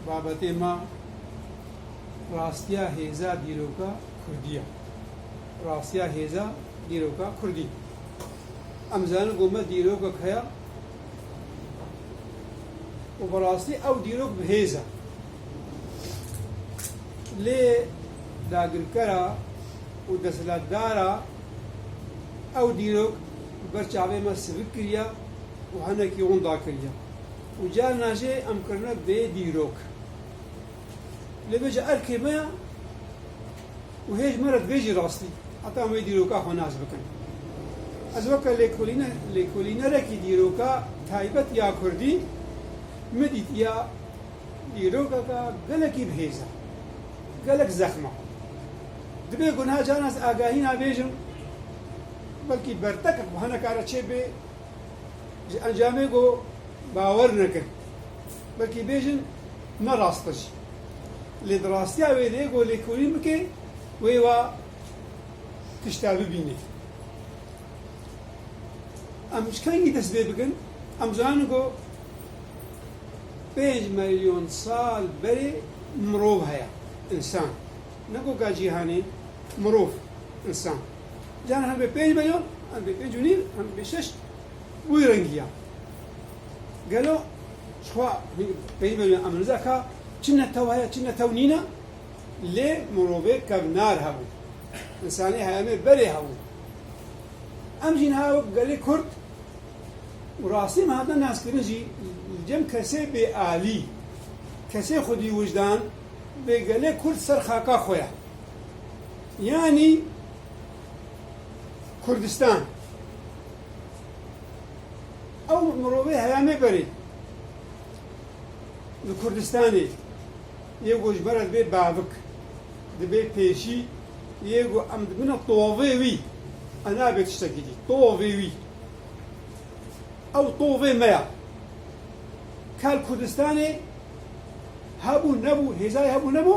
Babetê me rastiya hêza dîroka Kurdî ye. Rastiya hêza dîroka Kurdî. Em dizanin ku me dîrokek heye û bi rastî ew dîrok bi hêz e. Lê dagirkera û desthilatdara ew dîrok bi ber çavê me sivik kiriye û hinekî hûn dakiriye. Û carna jî em kirine bê dîrok. Lê bê ca erkê me ya û hêj me re divê jî rastî heta em wê dîroka xwe nas bikin. Ez weke lêkolîne lêkolînerekî dîroka taybet ya kurdî min dît ya dîrokeke gelekî bi hêz e, gelek zexm e. Dibê ku niha carna ez agahîna bêjim belkî bertekek bi hinekare çêbê. Ji encamê ku bawer nekir, belkî bêjin ne rast e jî. Lê di rastiya wê de ku lêkolîn bike wê wa tişta bibîne. Em ji kengî dest pê bikin? Em dizanin ku pênc milyon sal berê mirov heye, însan. Ne goka cîhanê, mirov, însan. Caran hem bê pênc beyo, hem bê pênc û nîv, hem bê şeş. Wî rengî ya. Gelo jixwe hîn pênc beyo ya eminûza ka çi netew heye, çi netew nîne lê mirovê kevnar hebû. Însanê heyemê berê hebû. Em jî niha wek gelê kurd û rastî em hatine naskirin jî li cem kesê bê alî, kesê xwedî wijdan bê gelê kurd ser xaka xwe ye. Yanî Kurdistan ew mirovê heyamê berê li Kurdistanê yê ku ji bera dibê bavik, dibê pêşî yê ku em dibina tovê wî, ew nabe tiştekî dî, tovê wî. Ew tovê me ya. Ka li Kurdistanê hebû nebû, hêzayê hebû nebû,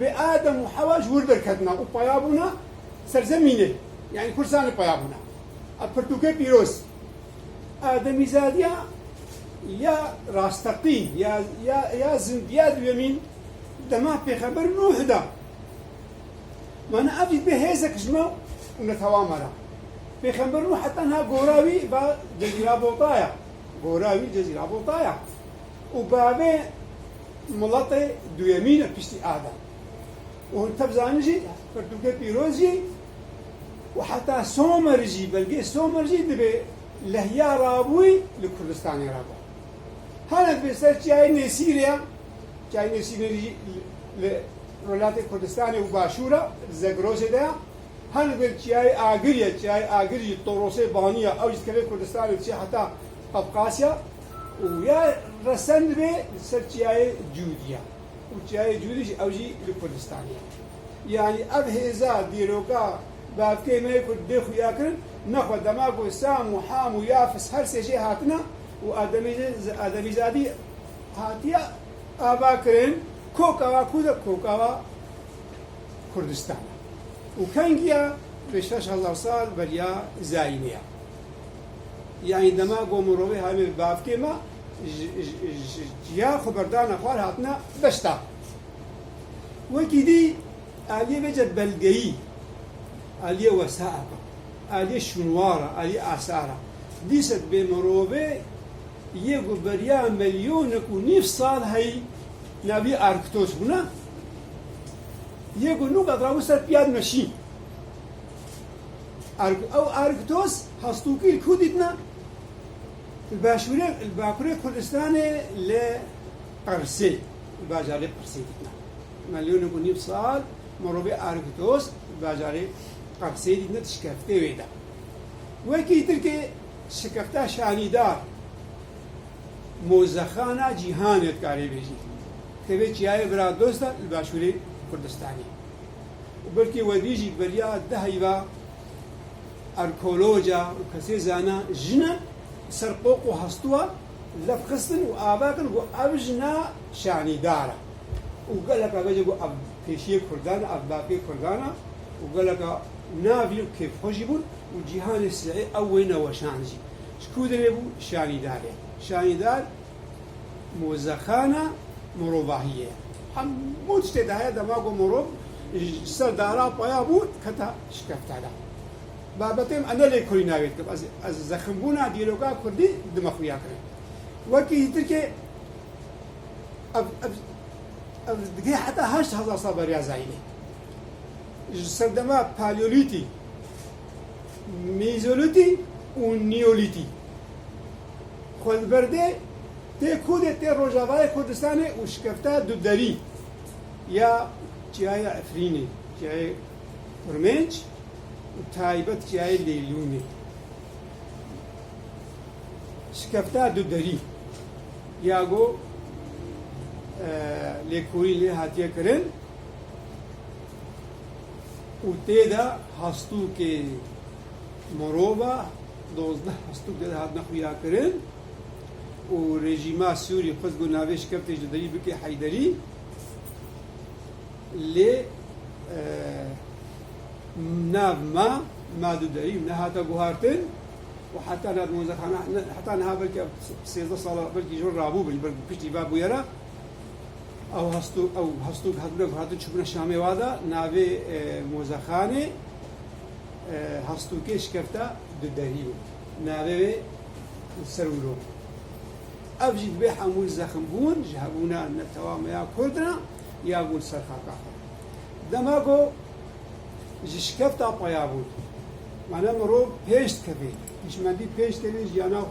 Bi Adem û Hewa ji wir derketina û paya bûna ser zemînê, yanî Kurdistanê paya bûna. Ev pirtûkê pîroz, ademîzadiya ya rasteqîn ya ya ya zindiya duyemîn dema pêxember Nuh da. Mana ev jî bê hêzek ji me û netewa me re. Pêxember Nuh heta niha gora wî ba Cezîra Botaya. Gora wî Cezîra Botaya. û bavê miletê duyemîn e piştî Adam. Û hûn tev zanin jî pirtûkê pîroz jî û heta somer jî belgê somer jî dibê lehya rabûyî li Kurdistanê re ba. Hene dibê ser çiyayê Nêsîrê ya, çiyayê Nêsîrê jî li Rojhilatê Kurdistanê û Başûr e, li Zegrosê de ya. Hene dibê li çiyayê Agir ya, çiyayê Agir jî Torosê Banî ya, ew jî dikeve Kurdistanê diçe heta Qafqasya. û ya resendibê li ser çiyayê Cûdî ya û çiyayê Cûdî jî ew jî li Kurdistanê ye. Yanî ev hêza dîroka bavkê me yê Kurd dê xuya kirin ne xwe dema ku Sam û Ham û Yafis her sê jê hatine û ademîzadî hatiye ava kirin koka wa ku de koka wa Kurdistan e û kengiya bi şeş hezar sal beriya zayînê ye. Yanî dema ku mirovê hebûye bi bavkê me ji cîya xwe berdana xwar hatine beşta. Wekî dî aliyê vece belgeyî, aliyê wesaiqa, aliyê şûnwara, aliyê asara dîset bê mirovê yê ku beriya milyonek û nîv sal heyî naviyê Arctos bûne yê ku nûka rawû ser piyad meşîn. Erg ew ergtos hastokî li ku dîtine? Li başûrê li bakurê Kurdistanê li Qersê, li bajarê Qersê dîtine. Melyonek û nîv sal mirovê ergtos li bajarê Qersê dîtine di şikeftê wê de. Wekî tirkê şikefta şanîdar mozexana cîhanê dikarê bêjî. Tevê çiyayê vira dosta li başûrê Kurdistanê. û belkî webî jî di beriya di heyva erkoloca û kesê zana jina di ser qoq û hestûa lef xistin û ava kir ku ev jina şanîdar e û geleka bejê ku ev pêşiyê kurdan e, ev bapê kurdan e û geleka navî û kêfxwe jî bûn û cîhanê sihê ew wê neweşand jî ji ku dibê bû şanîdarê. Şanîdar. Mozexana mirovahiyê ye. Hemû tiştê de heye dema ku mirov ji ser dara paya bû kete şikeftala. Babetê me ne lê Kurî navê dikim. Ez ez zeximbûna dîroka Kurdî di me xuya kirin. Wekî ji Tirkiyê ev ev ev digihê heta heşt hezar sal beriya zayînê. Ji serdema Paleolîtî. Mîzolîtî û Nîyolîtî xwe li ber dê tê ku dê tê rojavayê Kurdistanê û şikefta du derî ya Çiyayê Efrînê, Çiyayê Kurmênc û taybet Çiyayê Lêlûnê. Şikefta du derî ya ku lêkolîn lê hatiye kirin, û tê de hastûkê mirova dozdeh hastûk tê de hatine xuyakirin û rejîma Sûrî xwest ku navê şikefte ji derî bike Heyderî lê nav ma ma du derî nehate guhartin û heta nav mozexana heta niha belkî sêzdeh sala belkî jor rabû bin belkî piştî va bûyera Ew hastû ew hastû hatine guhatin çûbûna Şamê wa da navê e, Mozexanê e, hastûkê şikefta du derî bû. Navê wê Serwilo. Ev jî dibê hemû zexmbûn ji hebûna netewa me ya Kurdina ya bûn ser xaka xwe. Dema ku ji şikefta paya bûn, mane mirov pênc dikevê, hişmendî pênc tevê jiyana xwe